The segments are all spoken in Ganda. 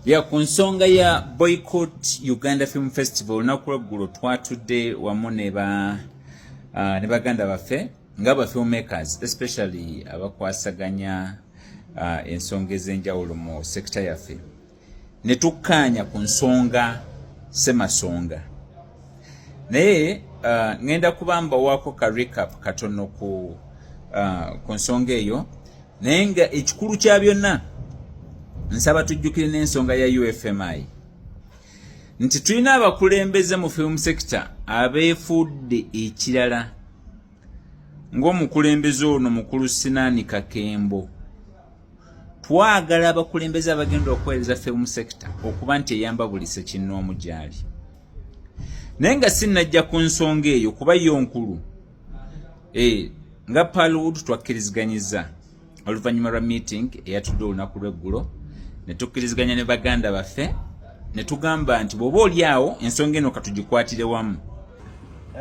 ya ku nsonga ya boycott uganda film festival olunaku lweggulo twatudde wamu ne ba uh, ne baganda baffe nga ba filmmakers especially abakwasaganya uh, ensonga ez'enjawulo mu sekita yaffe ne tukkaanya ku nsonga semasonga naye uh, ngenda kuba mbawaako ka recap katono ku, uh, ku nsonga eyo naye nga ekikulu kya byonna nsaba tujjukire n'ensonga ya ufmi nti tulina abakulembeze mu film sector abeefuudde ekirala ng'omukulembeze ono mukulu sinaani kakembo twagala abakulembeze abagenda okuweereza film sector okuba nti eyamba buli sekinnoomu gyali naye nga sinnajja ku nsonga eyo kuba yo nkulu eh, nga palwood twakkiriziganyiza oluvannyuma lwa meeting eyatudde olunaku lweggulo ne tukkiriziganya ne baganda baffe ne tugamba nti bw'oba oli awo ensonga eno katugikwatire wamu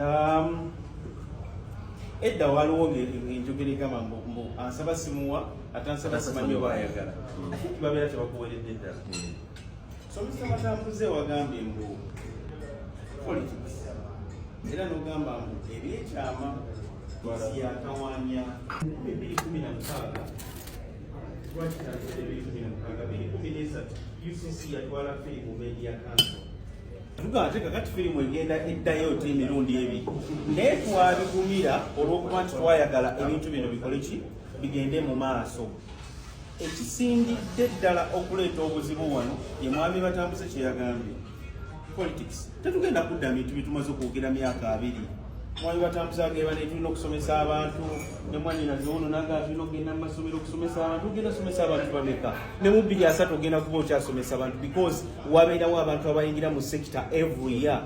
um, edda waliwo enjogera egamba mbu ansaba simuwa ate ansaba simanyi oba ayagala babeera tebakuweredde ddala hmm. Somesa Matakuze wagambye mbu politics era n'ogamba mbu ebyekyama nsi yakawanya bibiri kumi na mukaaga lwakitanzira ebiri kumi na mukaaga biri kumi n'esatu UCC yatwala firimu media council tuga ate kakati firimu egenda eddayo ti emirundi ebiri naye twabigumira olw'okuba nti twayagala ebintu bino bikole ki bigende mu maaso ekisingidde ddala okuleeta obuzibu wano ye mwami batambuze kyeyagambye politics tetugenda kudda bintu bitumaze okwogera myaka abiri mwami batambuze ageba netulina okusomesa abantu nemwanyina ziwono naga tulina okugenda mumasomero okusomesa abantu ogenda somesa abantu bameka ne mu bbiri asatu ogenda kuba okyasomesa abantu because wabeerawo abantu abayingira mu sector every year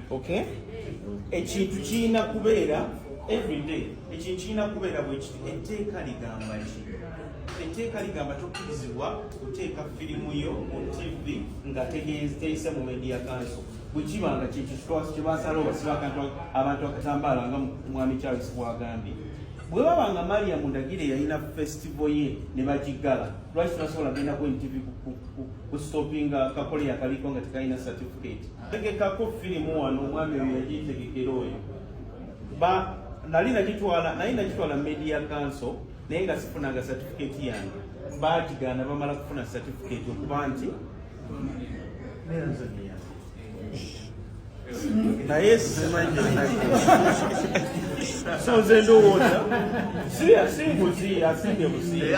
okay ekintu kirina kubeera everyday ekintu kirina kubeera bwekiti etteeka ligamba ki etteeka ligamba tokkirizibwa kuteeka firimu yo mu tv nga teyise mu media kanso bwekiba nga kyekitwasi kyebasala obasiba akantu abantu akatambaala nga mwami charles bwagambye bwe baba nga maria mundagire yalina festival ye ne bagiggala lwaki tunasobola genda ku ntv kustopinga kakole yakaliko nga tekalina certificate tegekako firimu wano omwami oyo yagitegekera oyo nali nagitwala naye nagitwala media council naye nga sifunanga satifiketi yange baakigaana bamala kufuna satifiketi okuba nti naye so nze ndowooza si nguzi asimbye buziiatyaba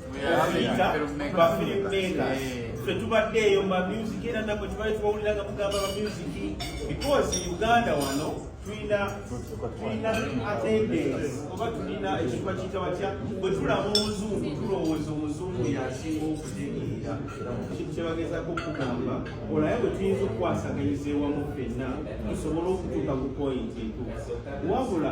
fetubaddeeyo mamusic era nabwe tubali tubawulira nga mugamba mamusic because uganda wano tulina tulina attendance oba tulina ekifa kiyita batya bwe tulaba omuzungu tulowooza omuzungu yasinga okutegeera kintu kyebagezako okugamba olaye bwe tuyinza okukwasaganyizebwamu fenna tusobole okutuuka ku pointi entuufu wabula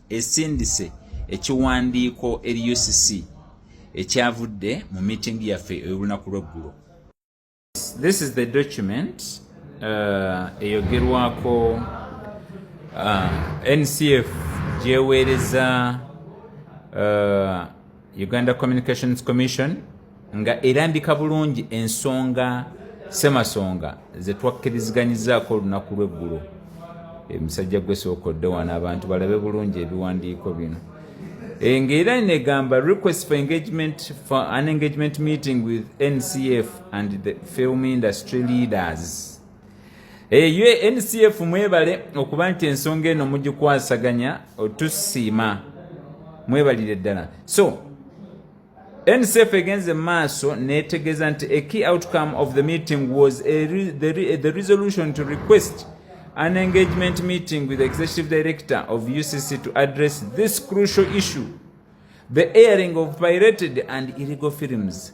esindise ekiwandiiko eri ucc ekyavudde mu miitingi yaffe ey'olunaku lw'eggulo this is the document uh, eyogerwako uh, ncf gyeweereza uh, uganda communications commission nga erambika bulungi ensonga semasonga zetwakkiriziganyizaako olunaku lweggulo emisajja gwe sooka odde wano abantu balabe bulungi ebiwandiiko bino e, ngaera negamba request for engagement for an engagement meeting with ncf and the film industry leaders eyo eh, ncf mwebale okuba nti ensonga eno mugikwasaganya otusiima mwebalire ddala so ncf egenze maaso netegeza nti a key outcome of the meeting was a re the, re the resolution to request an engagement meeting with the executive director of ucc to address this crucial issue the airing of pirated and illegal films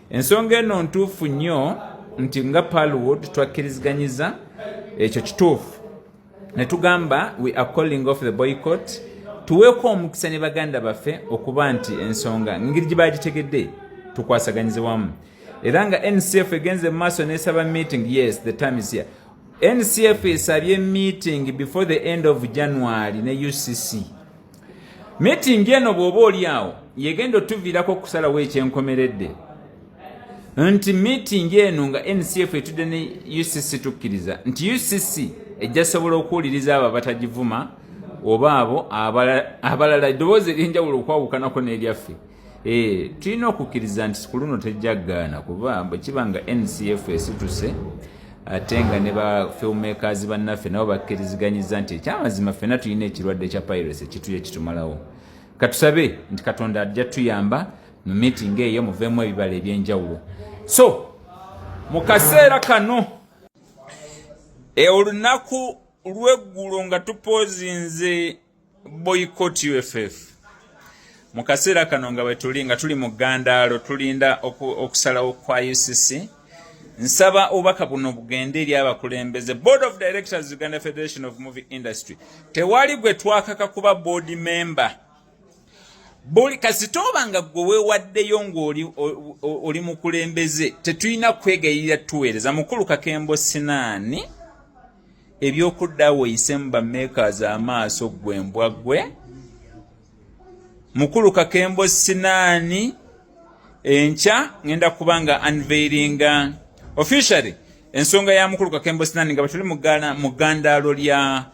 ensonga eno ntuufu nnyo nti nga palwood twakkiriziganyiza ekyo kituufu ne tugamba we are calling off the boycott tuweeko omukisa ne baganda baffe okuba nti ensonga ngeri gye bagitegedde tukwasaganyize wamu era nga ncf egenze mu maaso nesaba meeting yes the time is here ncf esabye meeting before the end of january ne ucc Meetingi eno bw'oba oli awo yegenda otuviirako okusalawo ekyenkomeredde nti meetingi eno nga NCF etudde ne UCC tukkiriza nti UCC ejja sobola okuwuliriza abo abatagivuma oba abo abalala eddoboozi ery'enjawulo okwawukanako n'eryaffe. Eh, tulina okukkiriza nti ku luno tejja gaana kuba bwe kiba nga ncf esituse ate nga ne ba filmmakers bannaffe nabo bakkiriziganyiza nti ekyamazima ffena tulina ekirwadde kya piracy ekituye kitumalawo katusabe nti katonda ajja tuyamba mu meeting eyo muveemu ebibala ebyenjawulo so mu kaseera kano e olunaku lweggulo nga tupoozinze boycott UFF mu kaseera kano nga wetuli nga tuli mu gandaalo tulinda okusalawo kwa UCC nsaba obubaka buno bugende eri abakulembeze board of directors uganda federation of movie industry tewali gwe twakaka kuba board member buli kasita oba nga gwe weewaddeyo ng'oli mukulembeze tetulina kwegayirira tuweereza mukulu kakembo sinaani ebyokudda awo oyisemu bamakers amaaso gwe mbwa gwe mukulu kakembo sinaani enkya ngenda kuba nga unveilinga officially ensonga ya mukulu kakembo sinaani nga batuli mu gandaalo lya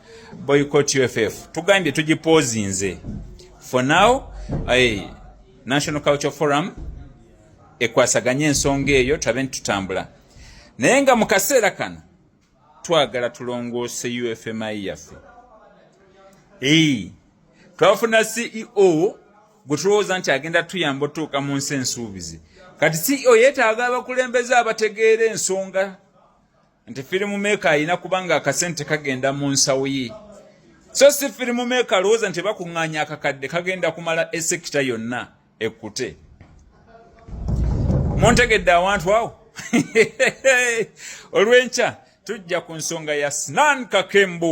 boycott uff tugambye tugipoozinze for now eh, national culture forum ekwasaganye ensonga eyo tulabe ntitutambula naye nga mu kaseera kano twagala tulongoose ufmi yaffe twafuna ceo gwe tulowooza nti agenda tuyamba otuuka mu nsi ensuubizi kati ceo yetaaga abakulembeze abategeera ensonga nti firimu meeka alina kubanga akasente kagenda mu nsawo ye so si firimu meeka alowooza nti bakuŋŋaanya akakadde kagenda kumala esekita yonna ekkute muntegedde awantu awo olw'enkya tujja ku nsonga ya sinan kakembu